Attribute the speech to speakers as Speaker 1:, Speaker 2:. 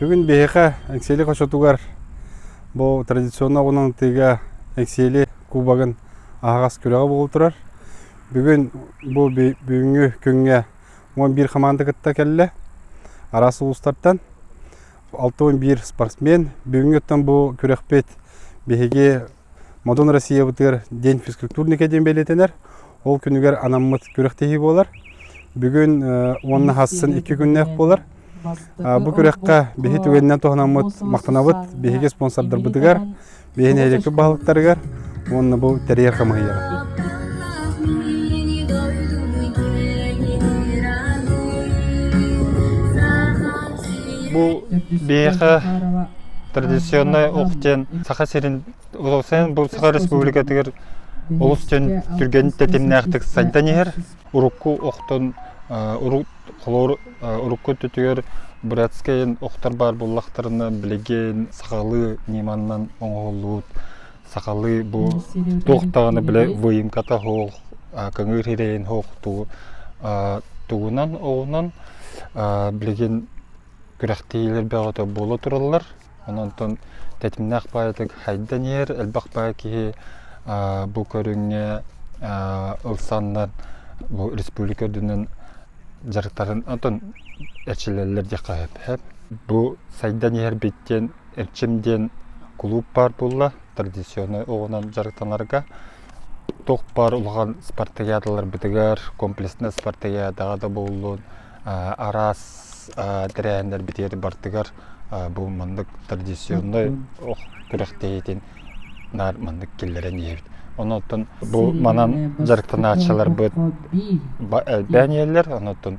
Speaker 1: Бүгүн биһиэхэ Эксели хочотугар бу традиционно оҕунан тыыга Эксели кубогын аһаҕас күрэҕэ буол турар. Бүгүн бу бүгүҥҥү күҥҥэ он биир хамаанда кытта кэллэ араас улуустартан. Алты он биир спортсмен бүгүҥҥүттэн бу күрэхпит биһиги Модун Россиябытыгар день физкультурника диэн бэлиэтэнэр. Ол күнүгэр анаммыт күрэхтэһии буолар. Бүгүн уонна хассын икки күннээх буолар. Бу күрэххэ биһи түгэнинэн туһанаммыт махтанабыт биһиги спонсордарбытыгар, биһи нэһилиэкпит баһылыктарыгар уонна бу тэрийэр хамыыһыйаҕа. Бу биһиэхэ традиционнай ох диэн Саха сирин олохсойон бу Саха Республикатыгар олус дьон түргэн тэтимнээхтик сайдан иһэр. Урукку охтон урут холуур урукку өттүгэр братскайын охтор баар буоллахтарына билигин сахалыы ньыманан оҥоһуллубут Сахалыы бу туох даҕаны бile выемката оһох, кыҥыыр ирэйин оһох тугу тугунан оҕунан билигин күрэхтэһиилэр бөҕөтө буола тураллар. Онтон тэтимнээх поэтик хайдан иһэр, элбэх поэт киһи бу көрүҥҥэ ылсаннар бу республика үрдүнэн дьарыктарын онтон эчилэллэр диэххэ сөп. Бу сайдан иһэр биттиэн Эчим диэн кулууп баар буолла традиционнай оҕунан дьарыктанарга. Туох баар улахан спартакиадаларбытыгар, комплекснай спартакиадаҕа да буоллун, араас тэрээһиннэрбитигэр бартыгар бу маннык традиционнай ох күрэхтэһиитин наар маннык киллэрэн иһэбит. Онуттан бу манан дьарыктанааччыларбыт элбээн иһэллэр, онуттан